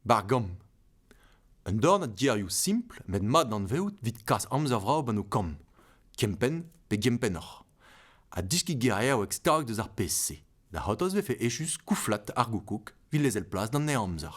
Bargomp. Un dorn a gerioù simpl met mat d'anvezout evit kas amzer vrav gant ho kamm, kempenn pe gempennoc'h. Ha deskiñ ger eo stag deus ar pezh-se, da c'hortoz vefe echus kouflat ar goukoug evit lezel plas d'an amzer.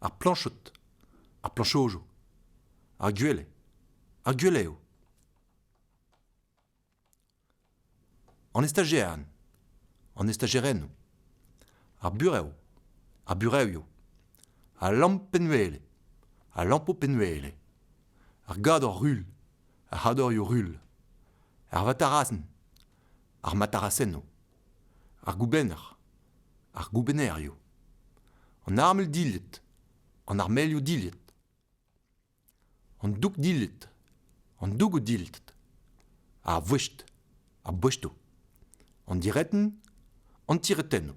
Ar plañchod. Ar plañchojo. Ar gwele. Ar gwele eo. An estajerien. An estajerennoù. Ar burev. Ar burevioù. Al lamp-penn-wele. Al lampo-penn-wele. Ar gador-rul. Ar c'hadorioù-rul. Ar vatarasenn. Ar matarasennoù. Ar goubenner. ar goubennerioù, an armel-dilhad, an armelioù-dilhad, an doug-dilhad, an dougoù-dilhad, ar vouest, ar bouestoù, an diretenn, an tiretennoù.